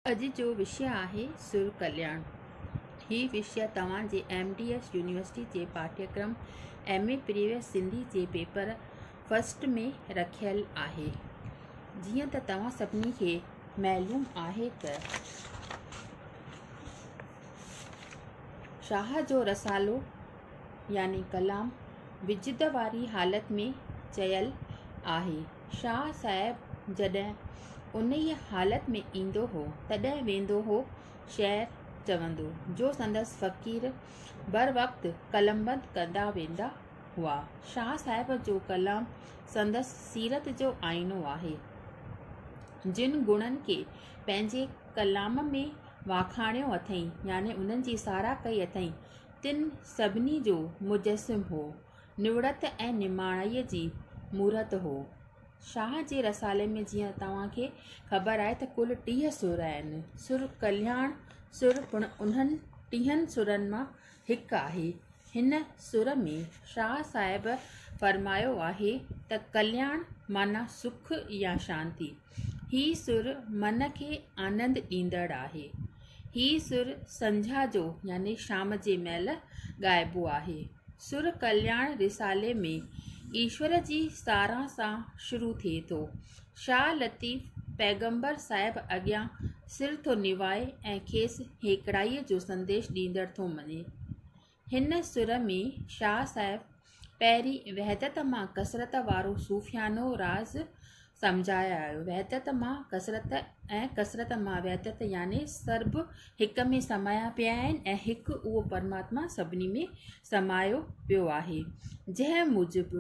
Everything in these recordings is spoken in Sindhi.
اڄ جو وشيه آهي سر ڪلياڻ. هي وشيه توهان جي ايم ڊي ايس يونيورسٽي جي پاٺيڪرم ايم اي پريويس سنڌي جي پيپر فرسٽ ۾ رکيل آهي. جيئن ته توهان سڀني کي معلوم آهي ته شاهه جو رسالو يعني ڪلام وجد واري حالت ۾ چيل آهي. شاهه صاحب جڏهن انهيء حالت ۾ ايندو هو، تڏهن ويندو هو شعر چوندو، جو سندس فقير بروقت قلمبند ڪندا ويندا هئا. شاهه صاحب جو ڪلام سندس سيرت جو آئينو آهي. جن گڻن کي پنهنجي ڪلام ۾ واکاڻيو اٿئي، يعني انهن جي ساراهه ڪئي اٿئي، تن سڀني جو مجسم هو. نوڙت ۽ نماڻائيء جي مورت هو. شاهه جي رسالي ۾ جيئن توهان کي خبر آهي ته ڪل ٽيهه سر آهن. سر ڪلياڻ سر پڻ انهن ٽيهن سرن مان هڪ آهي. هن سر ۾ شاهه صاحب فرمايو آهي ته ڪلياڻ معنيٰ سک يا شانتي. هي سر من کي آنند ڏيندڙ آهي. هي سر سنجها جو يعني شام جي مهل ڳائبو آهي. سر ڪلياڻ رسالي ۾ ايشور جي ساراهه سان شروع ٿئي ٿو. شاهه لطيف پيغمبر صاحب اڳيان سر ٿو نوائي ۽ کيس هيڪڙائيء جو سنديش ڏيندڙ ٿو مڃي. هن سر ۾ شاهه صاحب پهرين وحدت مان ڪثرت وارو صوفيانو راز سمجهائي آيو. وحدت مان ڪثرت ۽ ڪثرت مان وحدت يعني سرب هڪ ۾ سمايا پيا آهن ۽ هڪ اهو پرماتما سڀني ۾ سمايو پيو آهي. جنهن موجب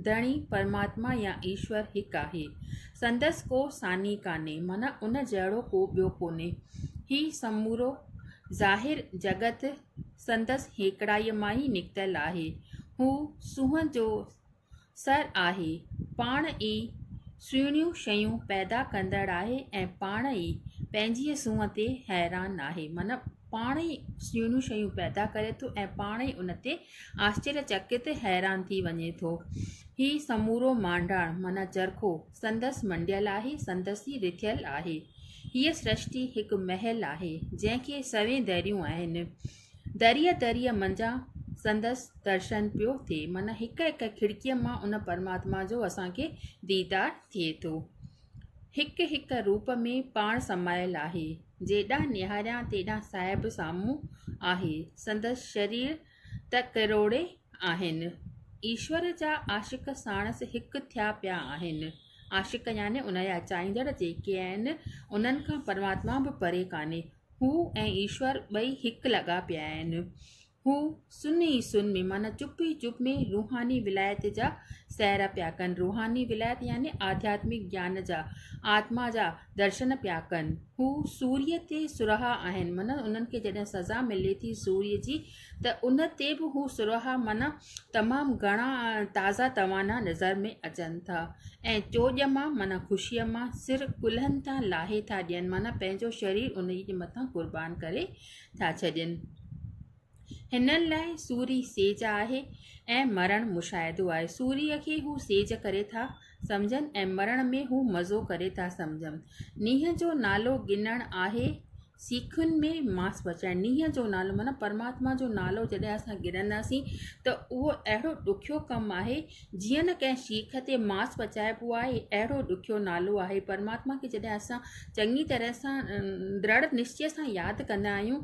ڌڻي پرماتما يا ايشور هڪ آهي. سندس ڪو ثاني ڪانهي معنيٰ ان جهڙو ڪو ٻيو ڪونهي. هي سمورو ظاهر جڳت سندس هيڪڙائيء مان ئي نڪتل آهي. هو سونهن جو سر آهي، پاڻ ئي سهڻيون شيون پيدا ڪندڙ آهي ۽ پاڻ ئي پنهنجيء سونهن تي حيران آهي. معنيٰ پاڻ ئي سهڻيون شيون پيدا ڪري ٿو ۽ پاڻ ئي ان تي آشچريچڪت، حيران، ٿي وڃي ٿو. هي سمورو مانڊاڻ معنيٰ چرخو، سندس منڊيل آهي، سندس ئي رٿيل آهي. هيء سرشتي هڪ محل آهي، جنهن کي سوين دريون آهن. دريء دريء منجهان سندس درشن پيو ٿئي، معنيٰ هڪ هڪ کڙڪيء مان ان پرماتما جو اسان کي ديدار ٿئي ٿو. هڪ هڪ روپ ۾ پاڻ سمايل آهي. جيڏانهن نهاريان تيڏانهن صاحب سامهون آهي. سندس شرير ته ڪروڙين آهن. ايشور جا عاشق ساڻس هڪ ٿيا پيا آهن. عاشق يعني ان جا چاهيندڙ جيڪي آهن، انهن کان پرماتما به پري ڪانهي. هو ۽ ايشور ٻئي هڪ لڳا پيا آهن. هو سن ئي سن ۾ معنيٰ چپ ئي چپ ۾ روحاني ولايت جا سير پيا ڪن. روحاني ولايت يعني آڌياتمڪ گيان جا، آتما جا درشن پيا ڪن. هو سوريء تي سرها آهن، معنيٰ انهن کي جڏهن سزا ملي ٿي سوريء جي ته ان تي به هو سرها معنيٰ تمام گهڻا تازا توانا نظر ۾ اچن ٿا ۽ چوڄ مان معنيٰ خوشيء مان سر ڪلهن تان لاهي ٿا ڏين معنيٰ پنهنجو شرير انهيء جي مٿان قربان ڪري ٿا ڇڏين. هنن لاء سوري سيج آهي ۽ مرڻ مشاهدو آهي. سوريء کي هو سيج ڪري ٿا سمجهن ۽ مرڻ ۾ هو مزو ڪري ٿا سمجهن. نينهن جو نالو گنڻ آهي سيخين ۾ ماس پچائڻ. نينهن جو نالو معنيٰ پرماتما جو نالو جڏهن اسان گنڙنداسين ته اهو اهڙو ڏکيو ڪم آهي جيئن نه ڪنهن سيخ تي ماس پچائبو آهي اهڙو ڏکيو نالو آهي پرماتما کي جڏهن اسان چڱي طرح سان درڙ نشچي سان ياد ڪندا آهيون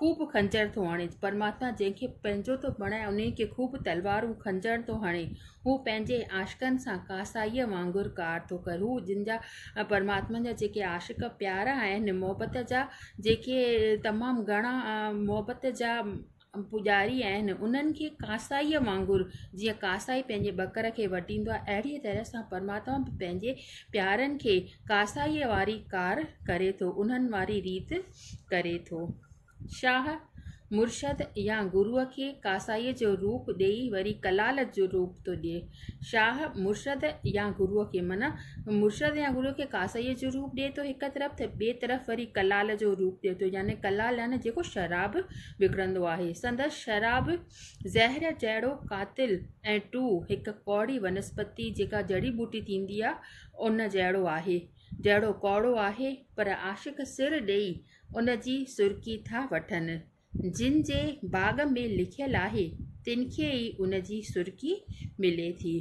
خوب خنجر ٿو هڻي، پرماتما جنهن کي پنهنجو ٿو بڻائي انهي کي خوب تلوارون خنجر ٿو هڻي، هو پنهنجي عاشقن سان ڪاسائيء وانگر ڪار ٿو ڪري، هو جن جا پرماتما جا جيڪي عاشق پيارا آهن، محبت جا جيڪي تمام گهڻا محبت جا پوڄاري آهن، انهن کي ڪاسائيء وانگر جيئن ڪاسائي پنهنجي ٻڪر کي وڍيندو آهي، اهڙيء طرح سان پرماتما به پنهنجي پيارن کي ڪاسائيء واري ڪار ڪري ٿو، انهن واري ريت. ڪري ٿو. شاهه مرشد يا گروء کي ڪاسائيء جو روپ ڏيئي وري ڪلال جو روپ ٿو ڏئي. شاهه مرشد يا گروء کي معنيٰ مرشد يا گروء کي ڪاسائيء جو روپ ڏئي ٿو هڪ طرف ته ٻئي طرف وري ڪلال جو روپ ڏئي ٿو يعني ڪلال يعني جيڪو شراب وڪڻندو آهي. سندس شراب زهر جهڙو قاتل ۽ ٽو هڪ ڪوڙي ونسپتي جيڪا جڙي ٻوٽي ٿيندي آهي ان جهڙو آهي. جهڙو ڪوڙو آهي پر عاشق سر ڏيئي ان جي سرڪي ٿا وٺن. جن جي باغ ۾ لکيل آهي تن کي ئي ان جي سرڪي ملي ٿي.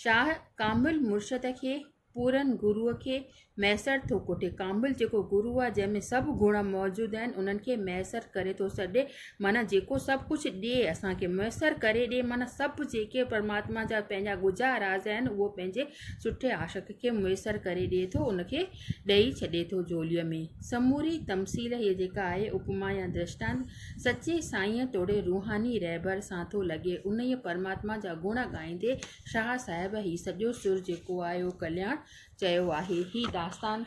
شاهه ڪامل مرشد کي پورن گروء کي ميسر ٿو ڪوٺي. ڪامل جيڪو گروء جنهن ۾ سڀ گڻ موجود آهن انهن کي ميسر ڪري ٿو سڏي. معنيٰ جيڪو سڀ ڪجهه ڏئي اسان کي ميسر ڪري ڏئي معنيٰ سڀ جيڪي پرماتما جا پنهنجا ڳجها راز آهن اهو پنهنجي سٺي عاشق کي ميسر ڪري ڏئي ٿو ان کي ڏئي ڇڏي ٿو جهوليء ۾ سموري تمثيل هيء جيڪا آهي اپما يا درشٽانت سچي سائينء توڙي روحاني رهبر سان ٿو لڳي انهيء پرماتما جا گڻ ڳائيندي شاهه صاحب هي سڄو سر جيڪو آهي اهو ڪلياڻ چيو آهي هي داستان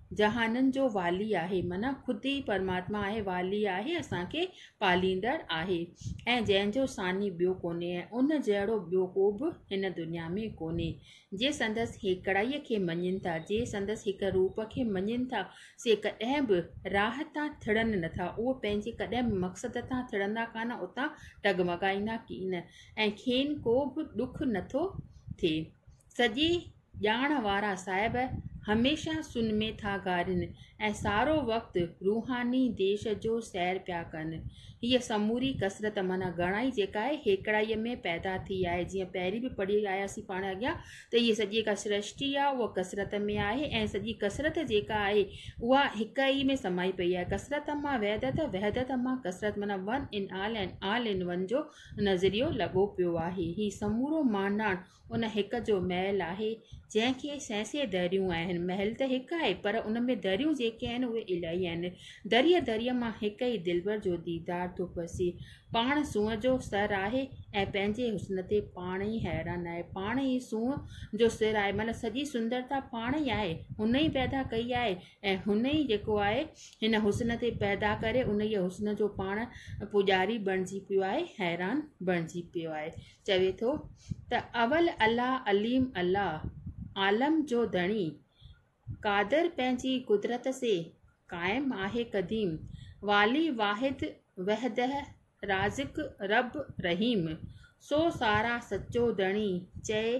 جهانن جو والي آهي معنيٰ خود ئي پرماتما آهي والي آهي اسانکي پاليندڙ آهي ۽ جنهن جو ثاني ٻيو ڪونهي ۽ ان جهڙو ٻيو ڪو به هن دنيا ۾ ڪونهي جي سندس هيڪڙائيء کي مڃين ٿا جي سندس هڪ روپ کي مڃين ٿا سي ڪڏهن به راهه تان ٿڙن نٿا اهي پنهنجي ڪڏهن به مقصد تان ٿڙندا ڪانه اتان ڊگمگائيندا ڪين ۽ کين ڪو به ڏک نٿو ٿئي سڄي ڄاڻ وارا صاحب هميشه سنمي ٿا گارين ۽ سارو وقت روحاني ديش جو سير پيا ڪن. هيء سموري ڪثرت معنيٰ گهڻائي جيڪا آهي هيڪڙائيء ۾ پيدا ٿي آهي. جيئن پهرين به پڙهي آياسين پاڻ اڳيان ته هيء سڄي جيڪا سرشٽي آهي اها ڪثرت ۾ آهي ۽ سڄي ڪثرت جيڪا آهي اها هڪ ئي ۾ سمائي پئي آهي. ڪثرت مان وحدت، وحدت مان ڪثرت معنيٰ one in all ۽ all in one جو نظريو لڳو پيو آهي. هي سمورو مانڊاڻ ان هڪ جو محل آهي جنهن کي سئي سئي دريون آهن محل ته هڪ آهي پر ان ۾ دريون جيڪي آهن اهي الاهي آهن دريء دريء مان هڪ ئي دلبر جو ديدار ٿو پسي پاڻ سونهن جو سر آهي ۽ پنهنجي حسن تي پاڻ ئي حيران آهي پاڻ ئي سونهن جو سر آهي معنيٰ سڄي سندرتا پاڻ ئي آهي هن ئي پيدا ڪئي آهي ۽ هن ئي جيڪو آهي هن حسن تي پيدا ڪري ان ئي حسن جو پاڻ پوڄاري بڻجي پيو آهي حيران بڻجي پيو آهي چوي ٿو ته اول الله عليم الله عالم جو ڌڻي قادر پنهنجي قدرت سي قائم آهي قديم والي واحد وحده رازق رب رحيم سو سارا سچو ڌڻي چئي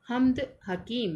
حمد حڪيم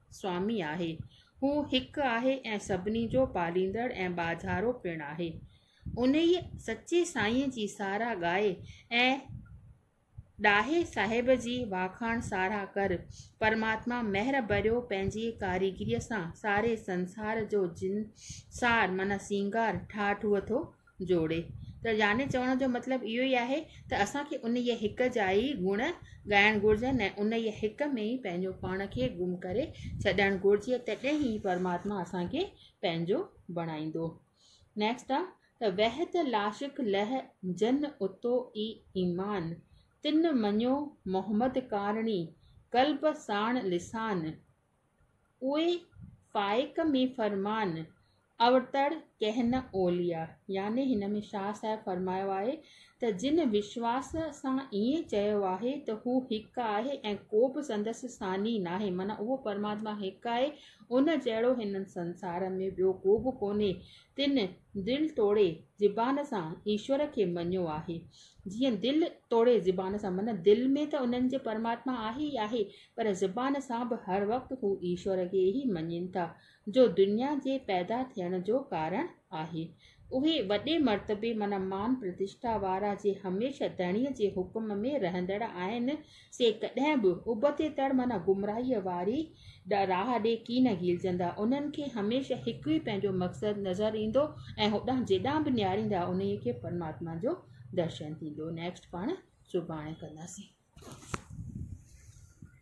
سوامي آهي. هو هڪ آهي ۽ سڀني جو پاليندڙ ۽ ٻاجهارو پڻ آهي. انهيء سچي سائينء جي ساراهه ڳائي ۽ ڏاهي صاحب جي واکاڻ ساراهه ڪر. پرماتما مهر ڀريو پنهنجي ڪاريگريء سان ساري سنسار جو جنسار معنيٰ سينگار ٺاهٺوهه ٿو جوڙي ته يعني چوڻ جو مطلب اهو ئي آهي ته اسان کي انهيء هڪ جا ئي گڻ ڳائڻ گهرجن ۽ انهيء هڪ ۾ ئي پنهنجو پاڻ کي گم ڪري ڇڏڻ گهرجي تڏهن ئي پرماتما اسان کي پنهنجو بڻائيندو نيڪسٽ آ ته وحت لاشڪ لح جن اتو ئي ايمان تن مڃيو محمد ڪارڻي قلب ساڻ لسان اهي فائق ۾ فرمان اوتر ڪهن نه اوليا يعني هن ۾ شاهه صاحب فرمايو آهي ته جن وشواس سان ائين چيو آهي ته هو هڪ آهي ۽ ڪو به سندس ثاني ناهي معنيٰ اهو پرماتما هڪ آهي ان جهڙو هن سنسار ۾ ٻيو ڪو به ڪونهي تن دل توڙي زبان سان ايشور کي مڃيو آهي جيئن دل توڙي زبان سان معنيٰ دل ۾ ته انهن جي پرماتما آهي ئي آهي پر زبان سان به هر وقت هو ايشور کي ئي مڃين ٿا، جو دنيا جي پيدا ٿيڻ جو ڪارڻ آهي. اهي وڏي مرتبي معنيٰ مان پرتشٺا وارا جي هميشه ڌڻيء جي حڪم ۾ رهندڙ آهن، سي ڪڏهن به ابتي تڙ معنيٰ گمراهيء واري راهه ڏي ڪين گهيلجندا. انهن کي هميشه هڪ ئي پنهنجو مقصد نظر ايندو ۽ هوڏانهن جيڏانهن به نهاريندا انهيء کي پرماتما جو درشن ٿيندو. Next پاڻ سڀاڻي ڪنداسين.